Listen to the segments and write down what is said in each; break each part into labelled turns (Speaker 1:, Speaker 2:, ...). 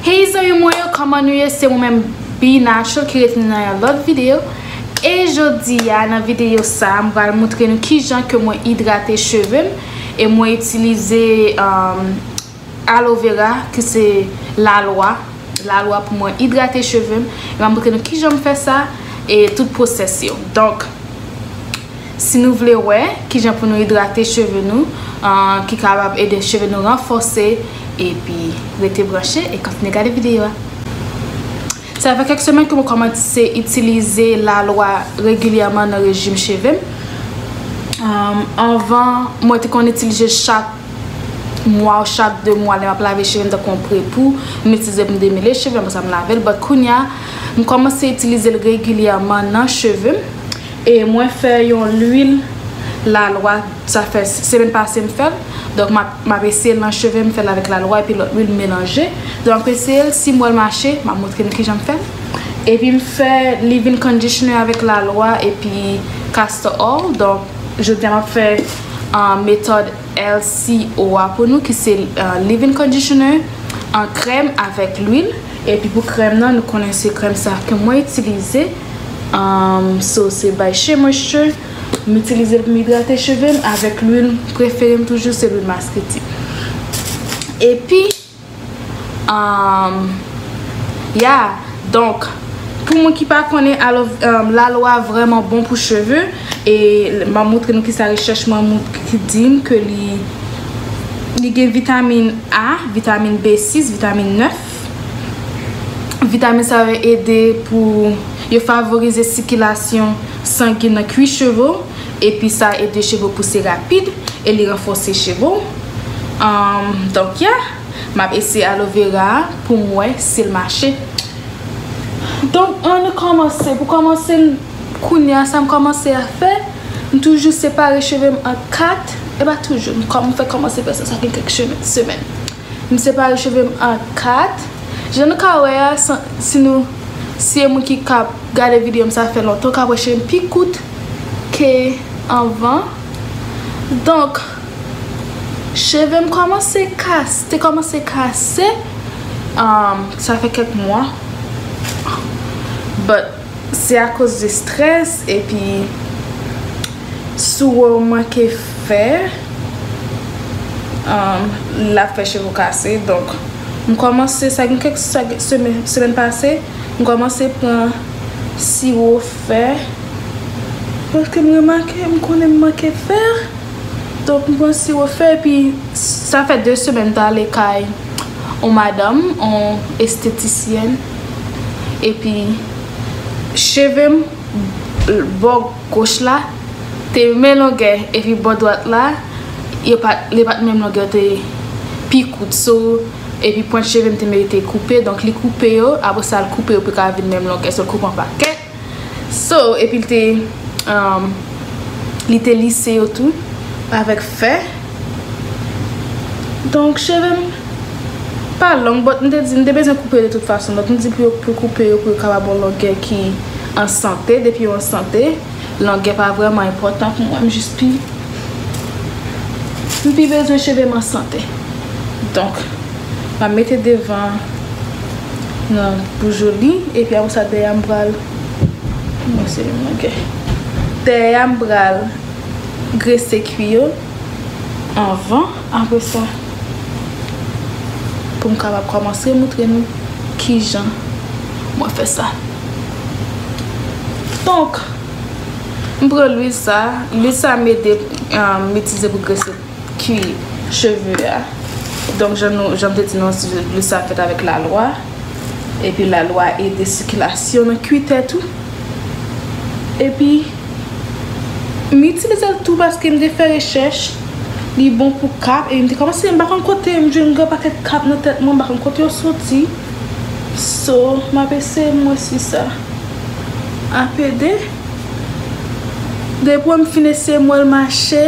Speaker 1: Hey zanmi mwen yo kòman nou ye se mwen menm Bnasho ki retounen nan yon lòt video e jodi a nan video sa mwen pral moutre nou kijan ke mwen idrate cheve m e mwen itilize alovera ki se lalwa lalwa pou mwen idrate cheve m mwen moutre nou kijan m fè sa e tout pwosès yo donk Si nou vle wè kijan pou nou idrate cheve nou ki kapab ede cheve nou ranfòse epi rete branche e kontinye gade videyo a. Sa fè kèk semèn ke mwen kòmanse itilize lalwa regilyèman nan rejim cheve m. Anvan mwen te konn itilize chak mwa ou chak 2 mwa lè m ap lave cheve m tankou yon prepou m itilize pou m demele cheve m apre sa m lave l but kounya m kòmanse itilize l regilyèman nan cheve m. E mwen fè yon lwil lalwa sa fè semèn pase m fèl donk map eseyel nan chevem fèl avèk lalwa epi lòt lwil m melanje donk map eseyel sim wèl mache map montre nou kijanm fèl epi m fè livin kondisyoner avèk lalwa epi kastò òl donk jodia map fè metòd LCO a pou nou ki se livin kondisyoner an krèm avèk lwil epi pou krèm nan nou konnen se krèm sa ke mwen itilize. So se by Shea Moisture M itilize l pou m idrate cheve m avèk lwil prefere m toujou se lwil maskriti Epi Ya Donk Pou moun ki pa konnen alo lalwa vrèman bon pou cheve E m ap moutre nou ki sa rechèch mwen ki di m ke li Li gen vitamin A, vitamin B6, vitamin 9. Vitamin sa yo ede pou yo favorize sikilasyon sangen nan kwi cheve w epi sa ede cheve w pouse rapid e li ranfòse cheve w donk ya m ap eseye aloe vera a pou m wè si l mache donk an nou kòmanse pou kòmanse kounye a sa m kòmanse a fè m toujou separe cheve m an 4 e pa toujou m kòmanse fè sa sa gen kèk semèn. M separe cheve m an 4. Jan nou ka wè a, si nou si e moun ki ka gade video m sa fè lontan, ou ka wè cheve m pi kout ke anvan. Donk, cheve m kòmanse kase, te kòmanse kase, sa fè kèk mwa. But. Se a koz de stress epi sou ou manke fè lap fè cheve ou kase donk m komanse sa gen kek semèn pase m komanse pran siwo fè paske m remake m konnen m manke fè donk m pran siwo fè epi sa fè 2 semèn m ta ale kay yon madanm yon estetisyèn. epi cheve m bò goch la te menm longè epi bò dwat la yo pat li pat menm longè yo te pi kout so epi pwent cheve m te merite koupe donk li koupe yo apresa l koupe yo pou yo ka vin menm longè so l koupe an pakèt So, epi l te, um, li te lise yo tou avèk fè. Donk, cheve m pa long, but m te di m te bezwen koupe de tout fason. Donk, m di pou yo, pou koupe yo, pou yo kapab yon longè ki an sante. Depi yo an sante, longè pa vrèman enpòtan pou mwen. M jis pi, m pi bezwen cheve m an sante. Donk. Map mete devan nan pou joli epi apre sa dèyè a m pral dèyè a m pral grese kwi yo anvan apre sa pou m kapab kòmanse moutre nou kijan mwen fè sa donk m pran lwil sa lwil sa m ede m itilize pou grese. Kwi cheve a. Donk jan nou, jan m te di nou si je bli sa fèt avèk la lwa. Epi la lwa ede sikilasyon nan kwi tèt ou. Epi m itilize l tou paske m te fè rechèch li bon pou kap e m te kòmanse m pa konn kote m jwenn gwo pakèt kap nan tèt mwen m pa konn kote yo soti. So m ap eseye m wè si sa ap ede. Depi m fin eseye m wè l mache.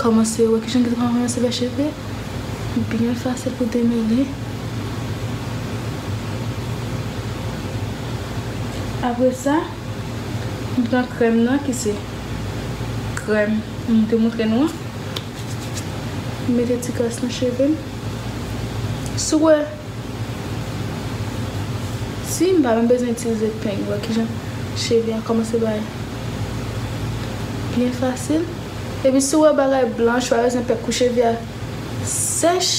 Speaker 1: Kòmanse wè kijan ki ta ranse fè cheve byen fasil pou demele. Apre sa, m pran krèm nan ki se krèm m te montre nou an. M mete ti kras nan cheve m. Si w wè, si m pa menm bezwen itilize peng, wè kijan cheve a kòmanse bay byen fasil. Epi si w wè bagay blanch pa bezwen pè kou cheve a sèch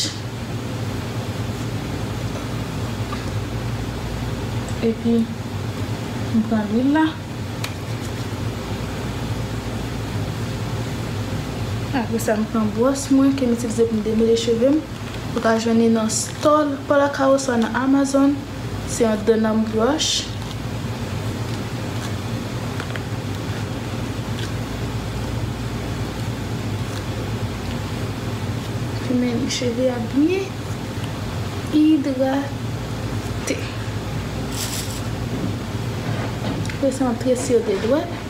Speaker 1: epi m pran lwil la apre sa m pran bwòs mwen ke m itilize pou m demele cheve m ou ka jwenn li nan stòl palaca oswa nan amazon. Se yon dan nanm broch. Fime li cheve a byen idrate. Resantre sio de dwèt.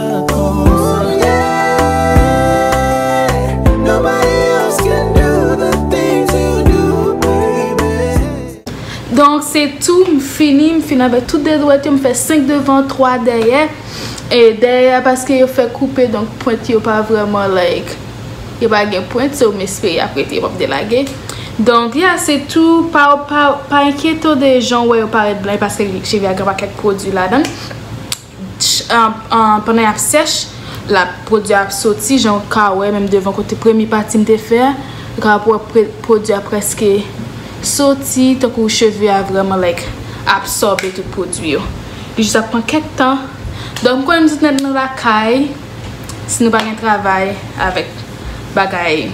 Speaker 2: Donk
Speaker 1: se tou m fini m fini avèk tout 2 dwèt yo m fè 5 devan 3 dèyè e dèyè a paske yo fè koupe donk pwent yo pa vrèman like yo pa gen pwent so m espere y ap rete yo p ap delage donk ya se tou pa pa enkyete w de jan w wè yo parèt blan paske cheve a gen yon pakèt pwodui ladan l. pandan y ap sèch la pwodui a ap soti jan ou ka wè menm devan kote premye pati m te fè a ou ka wè pwodui a prèske soti tankou cheve a vrèman like absòbe tout pwodui yo li jis ap pran kèk tan donk m konnen nou tout nèt nou lakay si nou pa gen travay avèk bagay.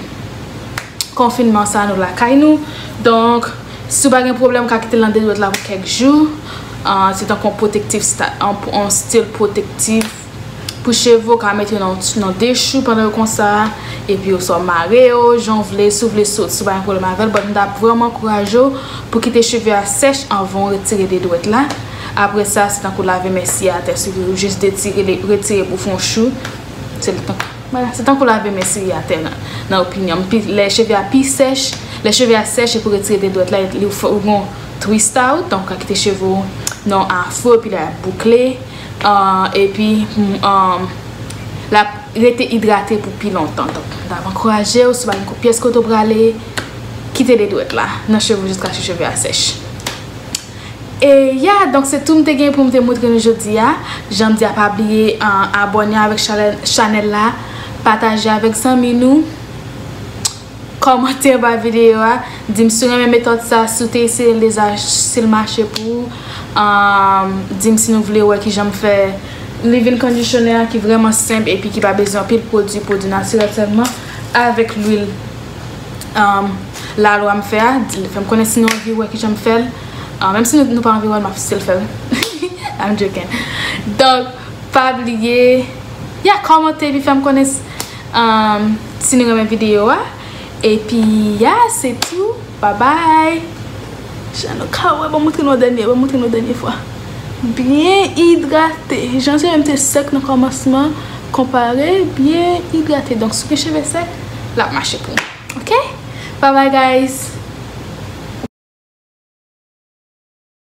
Speaker 1: konfinman sa nou lakay nou donk si w pa gen pwoblèm w ka kite l nan de dwèt la pou kèk jou se tankou yon pwotektif yon stil pwotektif pou cheve w ka mete yo nan de chou pandan yo konsa epi oswa w mare yo jan w vle si w vle sot si w pa gen pwoblèm avè l bòt m ta vrèman ankouraje w pou w kite cheve a sèch anvan w retire de dwèt la apre sa se tankou lave men si atè si w vle ou jis detire retire pou fè yon chou. Se tankou lave men siri a tè nan opinyonm. Pi lè cheve a pi sèch, lè cheve a sèch e pou retire de dwèt la e li fè ou gon twist out. Donk ou ka kite cheve ou nan afro e pi lè ap boukle. E pi la rete idrate pou pi lontan. Donk mwen ta ankouraje ou si ou pa gen kou pyès kote ou prale, kite de dwèt la nan cheve ou jiska cheve a sèch. E ya donk se tou m te gen pou m te moutre nou jodi a jan m di a pa bliye abòne avèk chanèl la pataje avèk zanmi nou kòmante anba videyo a di m si w renmen metòd sa si w te eseye l deja si l mache pou ou di m si nou vle wè kijan m fè leave-in conditioner a ki vrèman senp epi ki pa bezwen anpil pwodwi pwodwi natirèl sèlman avèk lwil. la lwa m fè a di fèm konnen si nou anvi wè ki janm fèl menm si nou pa anvi wèl map still fèl I'm joking donk pa bliye ya kòmante epi fèm konnen si nou renmen video a epi ya se tou babay. Jan nou ka wè, banm montre nou an dènye, banm montre nou dènye fwa. Byen idrate, jan je menm te sèk nan kòmansman, konpare byen idrate. Donk si w gen cheve sèk, lap mache pou ou. Ok! Bye bye guys!